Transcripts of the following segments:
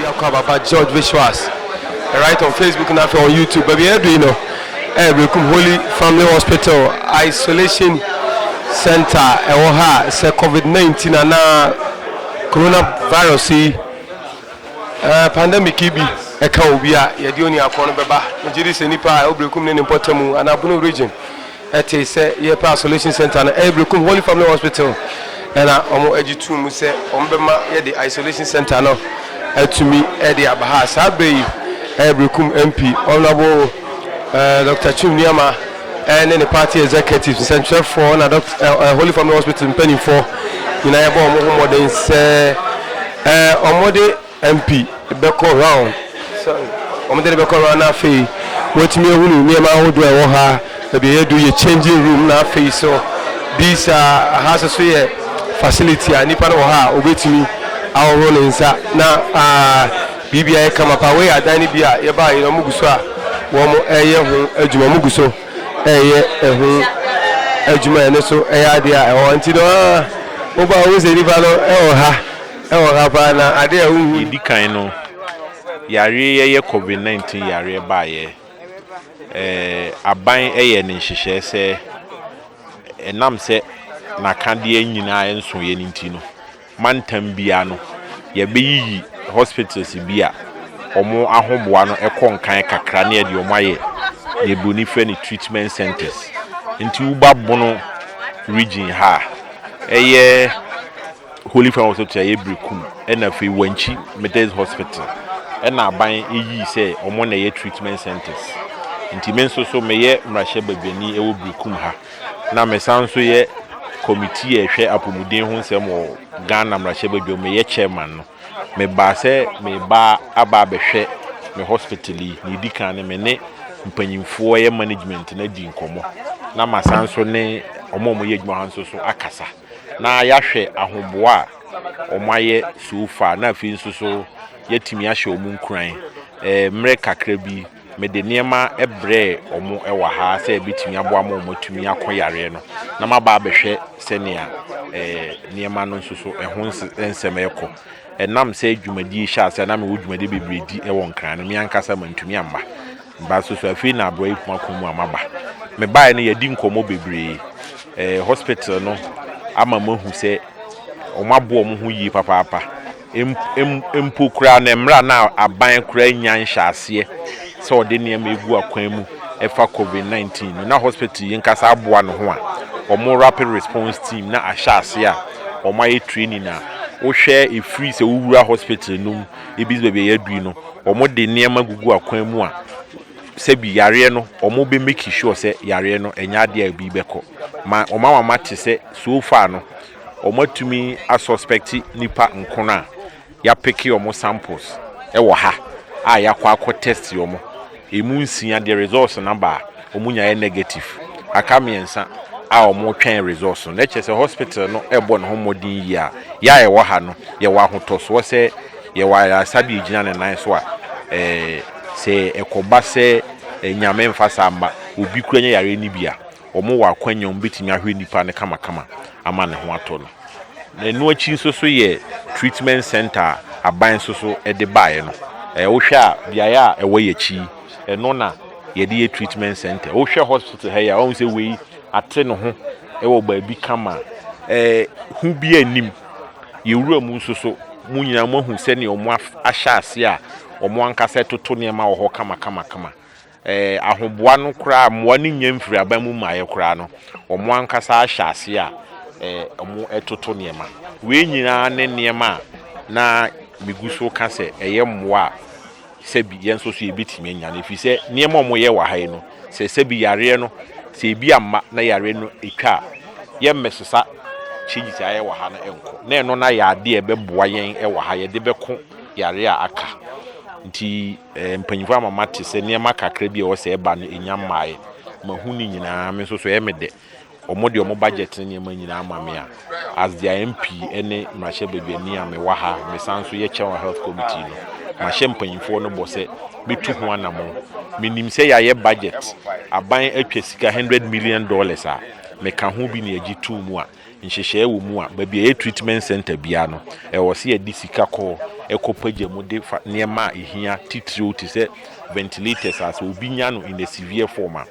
Biako a Papa George Visuals right on Facebook na afei on YouTube. Baabi a yɛadu yi no ɛyɛ Berekum Holy Family Hospital Isolation Center ɛwɔ ha a sɛ COVID-19 anaa coronavirus yi eh, pandemic yi bi ɛka obi a yɛde oniafoɔ no bɛba. Megye di sɛ nipa a ɛwɔ Berekum ne ne mpɔtamu anaa Bono region Ɛtee sɛ yɛrepɛ isolation centre no, ɛyɛ Berekum Holy Family Hospital na wɔgye too mu sɛ wɔbɛma yɛde isolation centre no atumi de aba ha. Saa berɛ yi, ɛyɛ Berekum MP, Honourable Doctor Twum Nuamah ne ne party executives, nsɛnkyerɛfoɔ na Holy Family Hospital mpanimfoɔ nyinaa yɛbɔɔ wɔn ho mmɔden sɛ wɔde MP bɛkɔ round, sorry, wɔn de no bɛkɔ round na afei wɔatumi ahunu nneɛma ahodoɔ a ɛwɔ ha, baabi a yɛadu yɛ changing room na afei so bi saa, aha nso so yɛ facility a nipa no wɔ ha a ɔbɛtumi ahohoro ne nsa na aa biribia yɛ kama paa, wei yɛ adan no bi a yɛbaa yɛ na wɔn gu so a wɔn ɛyɛ ho adwuma, wɔn gu so ɛyɛ ɛho adwuma ɛno so ɛyɛ adeɛ a ɛwɔ nti no aa wobaa wohu sɛ nipa no ɛwɔ ha. Ɛwɔ ha paa na ade a wohu. Deɛ ɛdi kan no, yareɛ yi ɛyɛ covid 19 yareɛ baeɛ. Ɛɛ aban ɛyɛɛ ne nhyehyɛɛ sɛ ɛnam sɛ n'akadeɛ nyinaa ɛnsoeɛ no nti no, mantam biara no yɛbɛyiyi hospitals bi a wɔn ahoboa no ɛkɔ nkan kakra na yɛde wɔn ayɛ deɛ broni frɛ no treatment centres. Nti woba Bono region ha a, ɛyɛ. Holy Family Hospital a ɛyɛ Berekum na afei Wankyi Methodist Hospital na aban yii sɛ wɔn na ɛyɛ treatment centres. Nti me nso so meyɛ mmarahyɛ badwani wɔ Berekum ha na mesan nso yɛ kɔmitii a ɛhwɛ apɔmuden ho nsɛm wɔ Ghana mmarahyɛ badwam, meyɛ chairman no. Mebaa sɛ meba aba abɛhwɛ me hospital yi, nea ɛdi kan no me ne mpanyimfoɔ a ɛyɛ management no adi nkɔmmɔ na masan nso ne wɔn a wɔyɛ adwuma ha nso so akasa. na yɛahwɛ ahoboa a wɔayɛ so far, na afei nso so yɛatumi ahyɛ wɔn nkuran. Eh, mmerɛ kakra bi, mede nneɛma brɛɛ wɔn wɔ ha sɛ ɛbɛtumi aboa ma wɔatumi akɔ yareɛ no, na maba abɛhwɛ sɛnea eh, nneɛma no nso so ɛho nsɛm ɛrekɔ. Ɛnam sɛ dwumadie hyɛ ase a na mewɔ dwumadie bebree di wɔ Nkran no, me ankasa mantumi amma. Baso so afei na abrɔyi kuma kɔn mu a maba me baeɛ no yɛdi nkɔmmɔ bebree ɛɛ hospital no ama mo ahu sɛ wɔn aboɔ wɔn ho yie papaapa mpo koraa na mmerɛ na aban koraa nya nhyɛ aseɛ sɛ ɔde nneɛma egu akwan mu ɛfa covid 19 no na hospital yi nkasa aboa no ho a wɔn rapid response team na ahyɛ aseɛ a wɔn ayɛ training a wohwɛ efiri sɛ wowura hospital no mu ebi dze beebi a yɛadu yi no, wɔde nneɛma gugu akwan mu a sɛbi yareɛ no wɔbɛ make sure sɛ yareɛ no ɛnyɛ adeɛ a ebi bɛkɔ ma wɔn ama mate sɛ so far no wɔatumi asuspect nipa nkono a yɛapeke wɔn samples ɛwɔ ha a yɛakɔ akɔ test wɔn. Emu nsia deɛ results no aba a, wɔn nyinaa yɛ negative. Aka mmiɛnsa a wɔretwɛn results no. Na ɛkyerɛ sɛ hospital no rebɔ ne ho mmɔden yie a yɛn a yɛwɔ ha no, yɛwɔ ahotɔsoɔ sɛ yɛwɔ ayaresa bi a ɛgyina ne nan so a eh, sɛ ɛkɔba sɛ eh, Nyame mfa saa mma obi koraa nya yareɛ no bi a, wɔwɔ akwanya a wɔbɛtumi ahwɛ nipa no kamakama ama ne ho atɔ no. Na ɛno akyi nso so yɛ treatment centre a aban nso so de baeɛ no. Ɛɛ wohwɛ a beaeɛ a ɛwɔ yɛn akyi yi, ɛno na yɛde yɛ treatment centre. Wohwɛ hospital ha yi a, woahu sɛ wei ate ne ho wɔ baabi kama. Ɛɛ hu biara nnim. Yɛwura mu nso so, mo nyinaa moahu sɛdeɛ wɔahyɛ aseɛ a wɔn ankasa toto nneɛma wɔ hɔ kamakamakama. Ɛɛ ahoboa no koraa mmoa no nnya mfiri aban mu mmaeɛ koraa no, wɔn ankasa ahyɛ aseɛ a ɛɛ wɔtoto nneɛma. Wei nyinaa ne nneɛma a na megu so reka sɛ ɛyɛ mmoa a sɛbi yɛn nso so yɛbɛtumi anya no. Ɛfiri sɛ nneɛma a wɔyɛ wɔ ha yi no, sɛ sɛbi yareɛ no, sɛ ebi amma na yareɛ no twa a, yɛremmɛsesa changes a yɛayɛ wɔ ha no nkɔ. Na ɛno no ayɛ adeɛ a ɛbɛboa yɛn wɔ ha, yɛde bɛko yareɛ a aka. Nti. Mpanyimfo ama mate sɛ nneɛma kakra bi a ɛwɔ sɛ ɛba no, ennya mmae. Mahu ne nyinaa. Me nso so, ɛyɛ me dɛ. Wɔde wɔn budget ne nneɛma nyinaa ma me a, as their MP ne mmarahyɛbadwani a mewɔ ha, mesan nso yɛ chair wɔ Health Committee no, mahyɛ mpanyimfoɔ no bɔ sɛ metu ho anammɔn. Menim sɛ yɛayɛ budget, aban atwa sika hundred million dollars a, meka ho bi na yɛgye too mu a, nhyehyɛɛ wɔ mu a baabi a ɛyɛ treatment centre biara no, ɛwɔ sɛ yɛde sika kɔ hɔ kɔ pagya mu de fa nneɛma a ɛhia titiriw te sɛ ventilators a sɛ obi nya no in a severe form a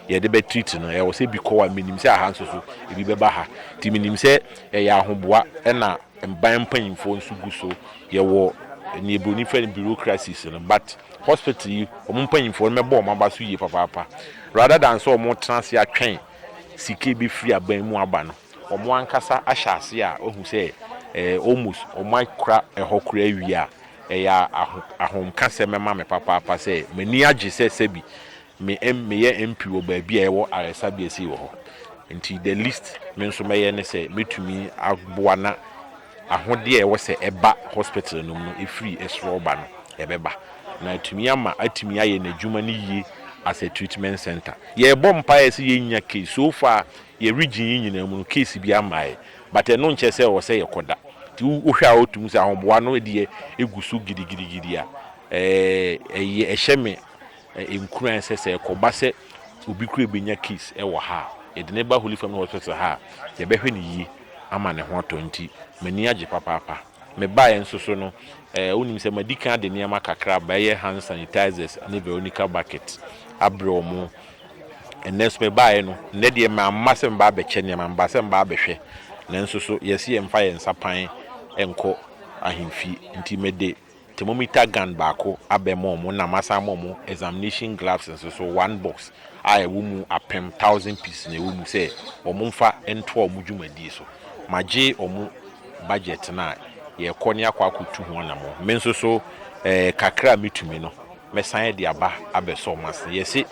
yɛde bɛ treat no, ɛwɔ sɛ bi kɔ hɔ a menim sɛ aha nso so ebi bɛba ha. Nti menim sɛ ɛyɛ ahoboa na mban mpanyimfoɔ nso gu so, yɛwɔ nea Buroni frɛ no bureaucracies no but hospital yi wɔn mpanyimfoɔ no mɛbɔ wɔn aba so yie papaapa rather than sɛ wɔtena ase atwɛn sika a ɛbɛfiri aban mu aba no, wɔn ankasa ahyɛ aseɛ a wahu sɛ ɛɛ almost wɔakura ɛhɔ koraa awie a, ɛyɛ aho ahomkasɛm ma me papaapa sɛ m'ani agye sɛ sɛbi me M meyɛ MP wɔ baabi a yɛwɔ ayaresabea sei wɔ hɔ. Nti the least me nso mɛyɛ ne sɛ mɛtumi aboa na Ahodeɛ a ɛwɔ sɛ ɛba hospital no mu no ɛfiri soro ba no ɛbɛba na atumi ama atumi ayɛ n'adwuma no yie as a treatment centre. Yɛrebɔ mpaeɛ sɛ yɛnnya case, so far yɛn region yi nyinaa mu no case biara mmaeɛ but ɛno nkyerɛ sɛ ɛwɔ sɛ yɛkɔda. Nti wohwɛ a wote mu sɛ ahoboa no deɛ ɛgu so gidigidigidi a ɛyɛ ɛhyɛ me Nkuran a ɛsɛ sɛ ɛkɔba sɛ obi kura benya case wɔ ha a, yɛde no ba Holy Family Hospital ha a, yɛbɛhwɛ no yie ama ne ho atɔ nti m'ani agye papaapa. Mebaeɛ nso so no, eh, wonim sɛ madi kan de nneɛma kakra aba, ɛyɛ hand sanitizers ne Veronica bucket abrɛ wɔn. Ɛnnɛ nso mebaeɛ no, nnɛ deɛ mamma sɛ meba abɛkyɛ nneɛma, mebaa sɛ meba abɛhwɛ. Nanso so, yɛse yɛmfa yɛn nsa pan nkɔ ahemfie nti mede thermometer gun baako abɛma wɔn na masan ama wɔn examination gloves nso so one box a ɛwɔ mu apem thousand pieces na ɛwɔ mu sɛ wɔn mfa ntoa wɔn dwumadie so. Magye wɔn budget no a yɛrekɔ ne akɔ akɔtu ho anamɔn. Me nso so eh, kakra a mɛtumi no mɛsan de aba abɛsɔ wɔn ase. Yɛse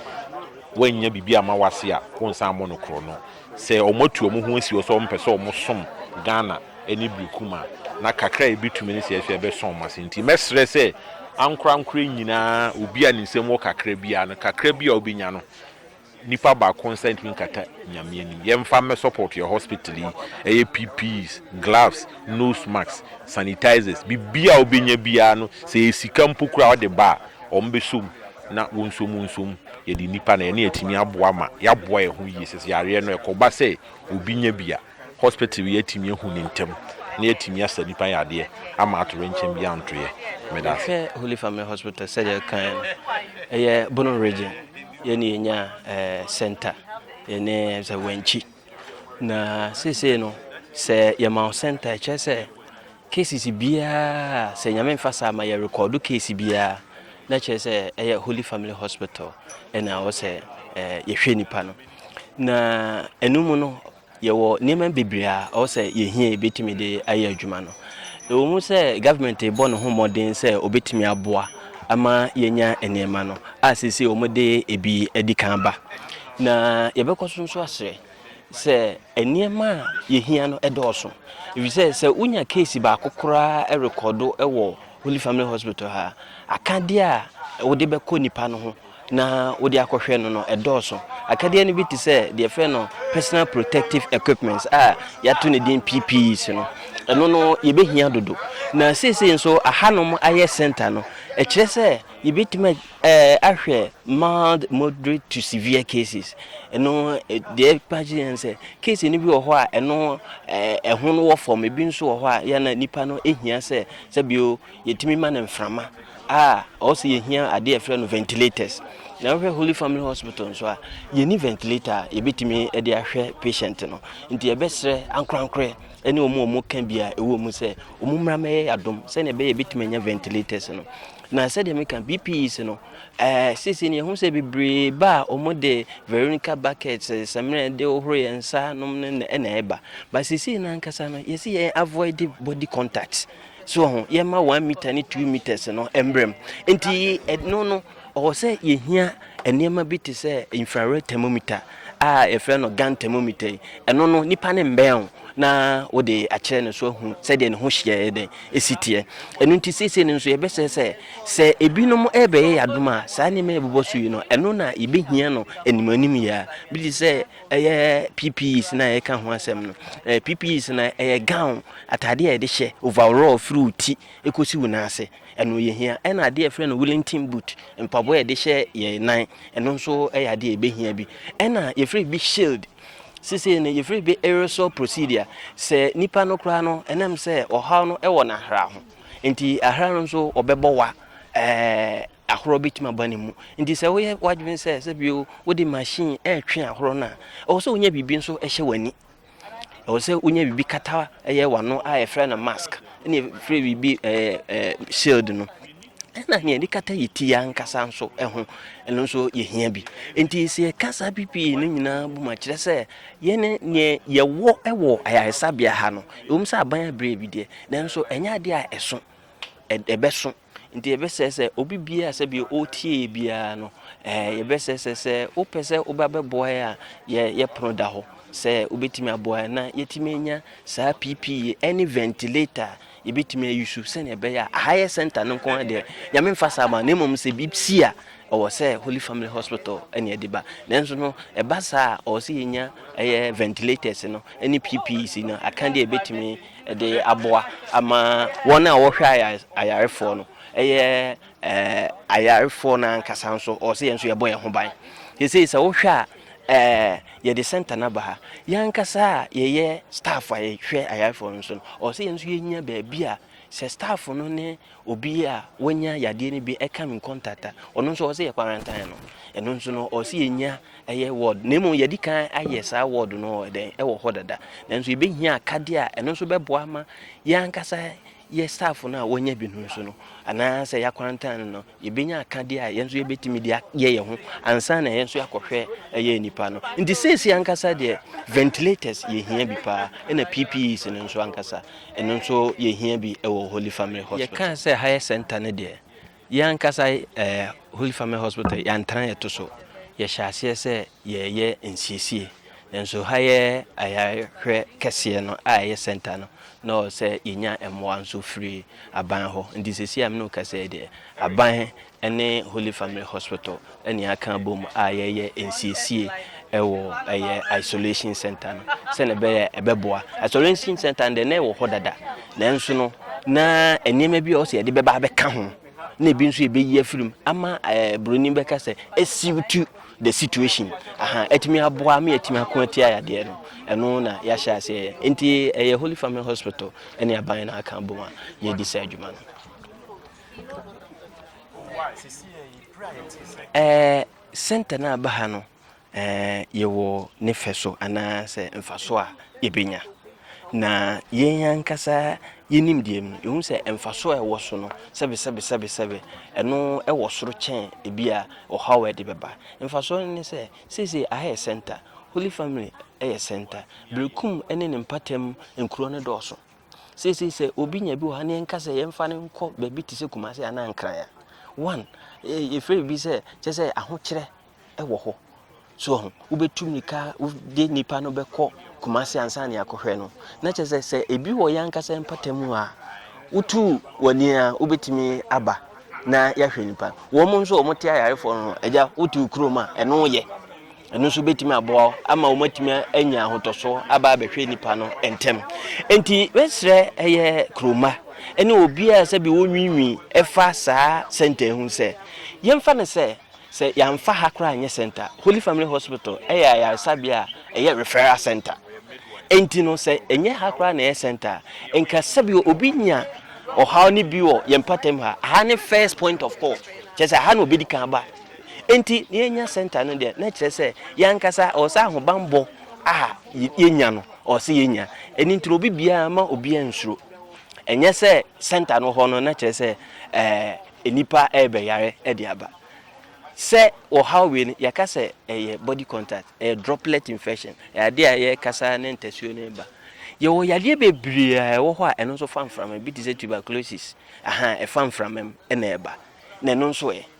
woannya biribi amma wo ase a wonsan mmɔ no korɔno. Sɛ wɔatu wɔn ho asi hɔ sɛ wɔmpɛ sɛ wɔsom Ghana ne Berekum a, na kakra a ɛbɛtumi ne sɛ ɛso ɛbɛsɔ wɔn ase. Nti mɛsrɛ sɛ ankorankorɛ nyinaa, obi a ne nsam wɔ kakra biara no, kakra bi a wobɛnya no, nipa baako nsa ntumi nkata Nyame anim. Yɛmfa mmɛ support yɛn hospital yi. Ɛyɛ PPEs, gloves, nose masks, sanitizers, biribiara a wobɛnya biara no, sɛ ɛyɛ sika mpo koraa a wode ba a, wɔbɛsɔ mu. na wonsomunsom yɛde nnipa na ɛne atumi aboa ma yɛaboa yɛn ho yie sɛs yareɛ no ɛkɔba sɛ obi nya bi a hospital yi atumi ahu no ntɛm na yɛatumi asa nnipa yadeɛ ama atorenkyɛm biara nto yɛ medase. Yɛhwɛ Holy Family Hospital sɛdeɛ ɛkaeɛ no ɛyɛ Bono Region yɛne yɛnya eh, center yɛne sɛ Wankyi na seesei no sɛ yɛma wo center ɛkyerɛ sɛ Cases biaa sɛ nyame nfa saa ma yɛ rekɔɔdo case biaa na kyerɛ sɛ ɛyɛ holy family hospital ɛna ɛwɔ sɛ yɛhwɛ nipa no na ɛno mu no yɛwɔ nneɛma bebree a ɛwɔ sɛ yɛhia yɛbɛtumi de ayɛ adwuma no ɛwɔ mu sɛ government bɔ ne ho mmɔden sɛ ɔbɛtumi aboa ama yɛnya nneɛma no a sese wɔde ebi adi kan ba na yɛbɛkɔ so nso asrɛ sɛ nneɛma a yɛhia no dɔɔso, ɛfiri sɛ sɛ wonya keesi baako koraa rekɔdo wɔ Holy Family Hospital ha a, akadeɛ a wode bɛkɔ nipa no ho na wode akɔhwɛ no no ɛdɔɔso. Akadeɛ no bi te sɛ deɛ fɛ no personal protective equipment a yɛato ne din PPEs no, ɛno no yɛbɛhia dodo. Na seesei nso ahanom ayɛ center no, ɛkyerɛ sɛ yɛbɛtumi Ahwɛ mild, moderate to severe cases no deɛ ɛpa kyerɛ ne sɛ case no bi wɔ hɔ a ɛno ɛho no wɔ fam, ebi nso wɔ hɔ a yɛ na nipa no ehia sɛ sɛbio yɛtumi ma no mframa a ɔwɔ sɛ yɛhia adeɛ ɛfrɛ no ventilators na wohwɛ Holy Family Hospital nso a yɛni ventilator a yɛbɛtumi de ahwɛ patient no nti yɛbɛsrɛ ankorankorɛ ɛne ɔmo ɔmo ka bi a ɛwɔ mu sɛ ɔmo mmra mɛyɛ adom sɛnea ɛbɛyɛ yɛbɛtumi anya ventilators no Na sɛdeɛ meka BPEs no, eh, seesei no yɛhu sɛ bebree ba a wɔde Veronica buckets, eh, samina yɛde hohoro yɛn nsa nom no na ɛna ɛba. But seesei no ankasa no, yɛsi yɛn avoid body contact. So ho, yɛma one meter ne two meters no mbrɛm. Nti ɛno no, ɔwɔ sɛ yɛhia Nneɛma bi te sɛ infrared thermometer a yɛfrɛ no gun thermometer yi, ɛno no nipa no mmɛn wo na wode akyerɛ no so ahu sɛdeɛ ne ho hyeɛ yɛ dɛn ɛsi teɛ. Ɛno nti seesei no nso yɛbɛsɛ sɛ sɛ ebinom ɛrebɛyɛ yɛn adom a saa nneɛma yɛbobɔ so yi no ɛno na yɛbɛhia no anim anim yɛ a bi te sɛ ɛyɛ PPEs na yɛka ho asɛm no. PPEs no ɛyɛ gown ataadeɛ a yɛde hyɛ overall firi wo ti ɛkɔsi wo nan ase. ɛno yɛ hia ɛna adeɛ a yɛfrɛ no Wellington boot mpaboa a yɛde hyɛ yɛn nan ɛno nso ɛyɛ adeɛ a yɛbɛhia bi ɛna yɛfrɛ bi shield sese no yɛfrɛ bi aerosol procedure sɛ nipa no koraa no ɛnam sɛ ɔhaw no ɛwɔ n'ahra ho nti ahra no nso ɔbɛbɔ wa ɛɛ ahorɔ bɛtumi aba ne mu nti sɛ woyɛ w'adwene sɛ sɛ bio wode machine ɛretwe ahorɔ no a ɛwɔ sɛ wonya biribi nso ɛhyɛ w'ani Ɛwɔ sɛ wonya biribi kata ɛyɛ w'ano a yɛfrɛ no mask ɛna yɛfrɛ biribi ɛɛ ɛɛ shield no ɛna nea yɛde kata yɛ ti ankasa nso ɛho ɛno nso yɛhia bi nti sɛ yɛka saa ppe no nyinaa bu ma kyerɛ sɛ yɛne nea yɛwɔ ɛwɔ ayaresabea ha no ɛwom sɛ aban abrɛ bi deɛ nanso ɛnyɛ adeɛ a ɛso ɛbɛso Nti yɛbɛsrɛ sɛ obi biara a sɛbi ɔretie yɛ biara no, ɛɛ eh, yɛbɛsrɛ sɛ sɛ wopɛ sɛ woba bɛboa yɛ a, yɛ yɛ pono da hɔ sɛ wobɛtumi aboa yɛ na yɛtumi anya saa PPE ɛne ventilator a yɛbɛtumi ayi so sɛnea ɛbɛyɛ a aha yɛ center no nko ara deɛ nyame mfa saa ma na mmom sɛ bi si a ɛwɔ sɛ Holy Family Hospital ɛne ɛde ba nanso no ɛba saa a ɔwɔ sɛ yɛnya ɛyɛ ventilators no ɛne PPEs no aka deɛ yɛbɛtumi de aboa ama wɔn a wɔhwɛ ayarefoɔ no yɛ ɛɛ ayarefoɔ no ankasa nso ɔwɔ sɛ yɛn nso yɛbɔ yɛn ho ban sesei sɛ wohwɛ a ɛɛ yɛde center no aba ha yɛn ankasa a yɛyɛ staff a yɛhwɛ ayarefoɔ no nso no ɔwɔ sɛ yɛn nso yɛnya baabi a sɛ staff no ne Obi a wanya yadeɛ no bi ɛka me contact a, ɔno nso ɔwɔ sɛ yɛ quarantine no. Ɛno nso no ɔwɔ sɛ yɛnya ɛyɛ ward na mmom yɛdi kan ayɛ saa ward no ɛdɛn ɛwɔ hɔ dada. Nanso yɛbɛhia akadeɛ a ɛno nso bɛboa ama yɛn ankasa yɛ staff no a wɔanya bi no nso no anaasɛ yɛ quarantine no yɛbɛnya akadeɛ a yɛn nso yɛbɛtumi de ayɛ yɛn ho ansa na yɛn nso yɛakɔhwɛ ɛyɛ nnipa no. Nti seesei ankasa deɛ ventilators yɛhia bi paa ɛna PPEs no nso ankasa. ɛno nso yɛhia bi wɔ Holy Family Hospital. Yɛkaa sɛ ha yɛ center no deɛ, yɛn ankasa eh, Holy Family Hospital yɛantena yɛto so. Yɛhyɛ aseɛ sɛ yɛyɛ nsiesie. Nanso ha yɛ ayarehwɛ kɛseɛ no a ɛyɛ center no, na ɔwɔ sɛ yɛnya mmoa nso firi aban hɔ. Nti seesei a me ne wo kasa yi deɛ, aban ne Holy Family Hospital na yɛaka abom a yɛreyɛ nsiesie wɔ ɛyɛ isolation center no sɛnea ɛbɛyɛ ɛbɛboa. Isolation center no deɛ na ɛwɔ hɔ dada, nanso no na nneɛma bi a ɔsɛ yɛde bɛba abɛka ho na ebi nso yɛbɛyi afiri mu ama ɛɛ buroni bɛka sɛ asiwtu the situation aha atumi aboa ama yɛatumi ako atia yadeɛ no ɛno na yɛahyɛ aseɛ nti ɛyɛ Holy Family Hospital ne aban no aka abom a yɛdi saa adwuma no. Ɛɛ, sɛnta no a ɛba ha no, ɛɛ, yɛwɔ ne fɛ so anaasɛ mfaso a yɛbɛnya. Na yɛn ankasa yɛnim deɛ mu. Yɛhu sɛ mfaso a ɛwɔ so no, sɛbesɛbesɛbesɛbe, ɛno ɛwɔ soro kyɛn ebi a ɔhaw a ɛde bɛba. Mfasoɔ no ne sɛ, seesei aha yɛ sɛnta. Holy Family yɛ sɛnta. Berekum ne ne mpatamu nkuro no dɔɔso. seesei sɛ obi nya bi wɔ ha ne yɛnka sɛ yɛmfa no nkɔ baabi te sɛ kumase anaa nkran a one yɛfrɛ biribi sɛ kyɛ sɛ ahokyerɛ wɔ hɔ so ho wobɛtu mmirika wode nnipa no bɛkɔ kumase ansa ne akɔhwɛ no na kyɛ sɛ sɛ ebi wɔ yɛ ankasa mpata mu a wotu w'ani a wobɛtumi aba na yɛahwɛ nipa wɔn nso wɔn te ayarefoɔ no agya wotu kurom a ɛno yɛ ɛno nso bɛtumi aboa wo ama wɔatumi anya ahotɔsoɔ aba abɛhwɛ nipa no ntɛm nti bɛsrɛ ɛyɛ kuroma ɛne obiara sɛ bi wɔnwiinwi ɛfa saa sɛnta ho sɛ yɛmfa no sɛ sɛ yɛamfa ha koraa nyɛ sɛnta Holy Family Hospital ɛyɛ ayaresabea a ɛyɛ referral center nti no sɛ ɛnyɛ ha koraa na ɛyɛ sɛnta nka sɛ bi obi nya ɔhaw ne bi wɔ yɛn patam ha aha ne first point of call kyɛ sɛ aha na obɛdi kan ba Enti na yɛanya sɛnta no deɛ, na kyerɛ sɛ yɛn ankasa ɛwɔ sɛ ahobammɔ a yɛnya no, ɛwɔ sɛ yɛnya. Ɛno nti na obi biara, mma obiara nsuro. Ɛnyɛ sɛ sɛnta no hɔ no, na kyerɛ sɛ ɛɛ nnipa rebɛyare de aba. Sɛ ɔhaw wei no, yɛka sɛ ɛyɛ body contact, ɛyɛ droplet infection, ɛyɛ adeɛ a yɛkasa ne ntasuo no reba. Yɛwɔ yadeɛ bebree a ɛwɔ hɔ a ɛno nso fa mframa, ebi te sɛ tuberculosis, aha, ɛfa mframa mu na ɛba, na ɛno nso ɛ?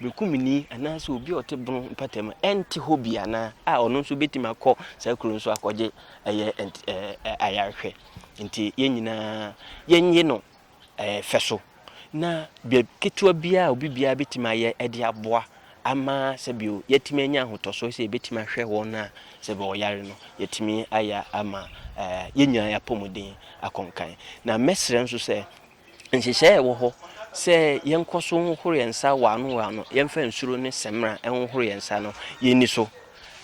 Bekumeni anaasɛ obi a ɔte bono mpata mu ɛnte hɔ bi anaa a ɔno nso bɛtumi akɔ saa kuro nso akɔgye ɛyɛ ayarehwɛ nti yɛn nyinaa yɛnye no fɛ so na bɛ ketewa biara a obi biara bɛtumi ayɛ ɛde aboa ama sɛbio yɛtumi anya ahotɔsoɔ sɛ yɛbɛtumi ahwɛ wɔn a sɛbio ɔyare no yɛtumi ayɛ ama yɛn nyinaa yɛapɔmuden akɔnkan na mɛsrɛ nso sɛ Nhyehyɛe wɔ hɔ sɛ yɛnkɔ so nhohoro yɛn nsa wɔ ano wɔ ano, yɛmfa nsuro ne samina nhohoro yɛn nsa no, yenni so.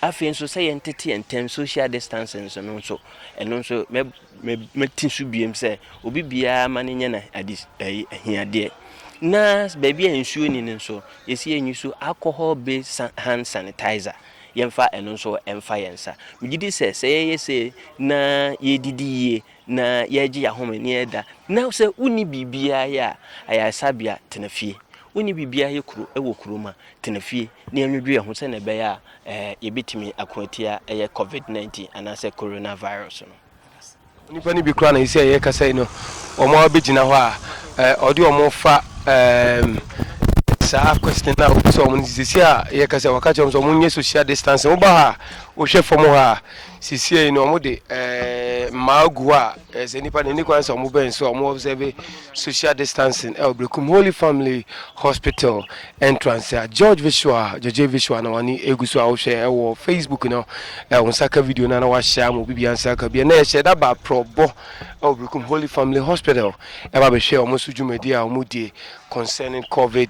Afei nso, sɛ yɛntete yɛn ntam, social distancing so no nso, ɛno nso mɛ, mɛ, mɛte so biem sɛ obi biara ma no nyɛ no ade, ɛyi, ahiadeɛ. Na baabi a nsuo ni no nso, yɛsi yɛn ani so alcohol-based san, hand sanitizer, yɛmfa ɛno nso mfa yɛn nsa. Megye di sɛ, sɛ yɛyɛ sei na yɛredidi yie na yɛregye yɛn ahome na yɛreda. Na sɛ wonni biribiara yɛ a, ayaresabea, tena fie. Wonni biribiara yɛ kuro wɔ kurom a, tena fie na yɛnnwodwo yɛn ho sɛnea ɛbɛyɛ a eh, yɛbɛtumi ako atia ɛyɛ COVID-19 anaasɛ coronavirus no. Nnipa no bi koraa na ɛsɛ ɛyɛ kasa yi no, wɔn a wɔbɛgyina hɔ a eh, ɔde wɔn fa eh, saa question no a wɔbisa wɔn no sisi a yɛkasa wɔka kyerɛ wɔn sɛ wɔn nyɛ social distancing. Woba ha a, wohwɛ fam ha a, Sisiei no wɔn de ɛɛ mmaa gu hɔ a ɛɛ sɛ nipa na ɛni kwan sɛ wɔn bɛn so a wɔn observe social distancing ɛwɔ Brekum Holy Family Hospital entrance a George Visual George Visual na wɔn egu so a wɔhwɛ ɛwɔ Facebook no ɛwɔ nsa ka video no na wɔahyɛ ama obi bia nsa ka bia na ɛhyɛ da ba prɔbɔ ɛwɔ Brekum Holy Family Hospital ɛba bɛhwɛ wɔn so dwumadi a wɔn die concerning COVID